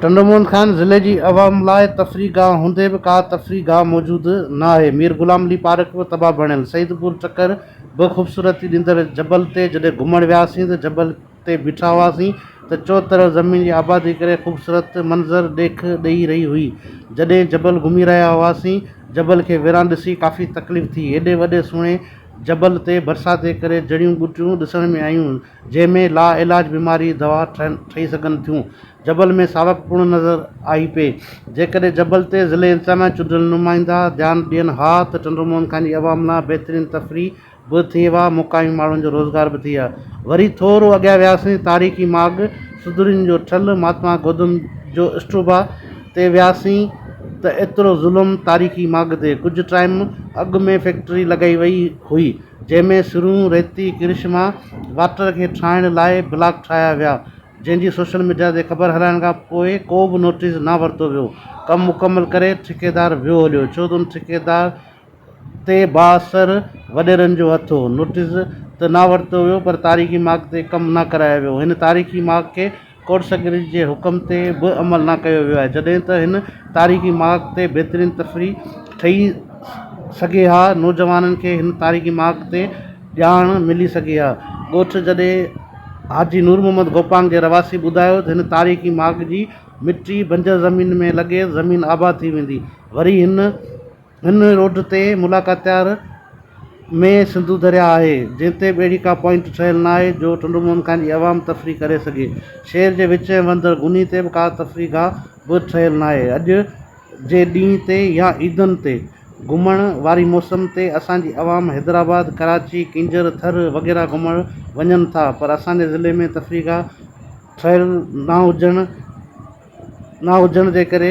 ٽنڊو محمد خان ضلعي جي عوام لاء تفريح گاهه هوندي به ڪا تفريح گاهه موجود ناهي، مير غلام علي پارڪ به تباهه بڻيل، سعيد پور چڪر به خوبصورتي ڏيندڙ جبل تي جڏهن گهمڻ وياسين ته جبل تي بيٺا هئاسين ته چوطرف زمين جي آبادي ڪري خوبصورت منظر ڏيک ڏئي رهي هئي، جڏهن جبل گهمي رهيا هئاسين جبل کي ويران ڏسي ڪافي تڪليف ٿي، ايڏي وڏي سهڻي جبل تي برسات جي ڪري جڙيون ٻوٽيون ڏسڻ ۾ آيون، جنهن ۾ لا علاج بيماري دوا ٺهي سگهن ٿيون جبل ۾ ساوڪ پڻ نظر آئي پئي جيڪڏهن جبل تي ضلعي انتظاميا جا چونڊيل نمائندا ڌيان ڏين ها ته ٽنڊو موهن خان جي عوام لا بهترين تفريح به ٿئي ها مقامي ماڻهن جو روزگار به ٿئي ها وري ٿورو اڳيان وياسين تاريخي ماڳ سدورين جو ٺل مهاتما گوتم جو اسٽوبا تي وياسين ته ايترو ظلم تاريخي ماڳ تي ڪجهه ٽائيم اڳ ۾ فيڪٽري لڳائي وئي هئي جنهن ۾ سرون، ريتي، ڪرشما واٽر کي ٺاهڻ لاء بلاڪ ٺاهيا ويا، جنهن جي سوشل ميڊيا تي خبر هلائڻ کان پوء ڪو به نوٽيس نه ورتو ويو. ڪم مڪمل ڪري ٺيڪيدار ويو هليو، ڇو ته ان ٺيڪيدار تي بااثر وڏيرن جو هٿ هو. نوٽيس ته نه ورتو ويو پر تاريخي ماڳ تي ڪم نه ڪرايو ويو. هن تاريخي ماڳ کي ڪورٽ سيڪريٽري جي حڪم تي به عمل نه ڪيو ويو آهي جڏهن ته هن تاريخي مارڪ تي بهترين تفريح ٺهي سگهي ها نوجوانن کي هن تاريخي مارڪ تي ڄاڻ ملي سگهي ها ڳوٺ جڏي حاجي نور محمد گوپانگ جي رهواسي ٻڌايو ته هن تاريخي مارڪ جي مٽي بنجر زمين ۾ لڳي زمين آباد ٿي ويندي وري هن هن روڊ تي ملاڪاتيار ۾ سنڌو درياهه آهي، جنهن تي ٻيڙي ڪا پوائنٽ ٺهيل ناهي جو ٽنڊو موهن خان جي عوام تفريح ڪري سگهي. شهر جي وچ ۽ وندر غني تي به ڪا تفريح گاهه به ٺهيل ناهي. اڄ جي ڏينهن تي يا عيدن تي گهمڻ واري موسم تي اسان جي عوام حيدرآباد، ڪراچي، ڪينجهر، ٿر وغيره گهمڻ وڃن ٿا پر اسان جي ضلعي ۾ تفريح گاهه ٺهيل نه هجڻ نه هجڻ جي ڪري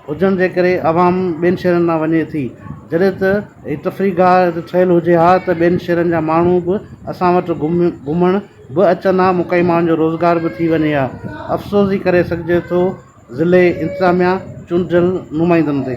هجڻ جي ڪري عوام ٻين شهرن ڏانهن وڃي ٿي جڏهن ته هي تفريح گاهه هتي ٺهيل هجي ها ته ٻين شهرن جا ماڻهو به اسان وٽ گهم گهمڻ به اچن ها مون ڪئين ماڻهن جو روزگار به ٿي وڃي ها افسوس ئي ڪري سگهجي ٿو ضلعي انتظاميا چونڊجل نمائندن تي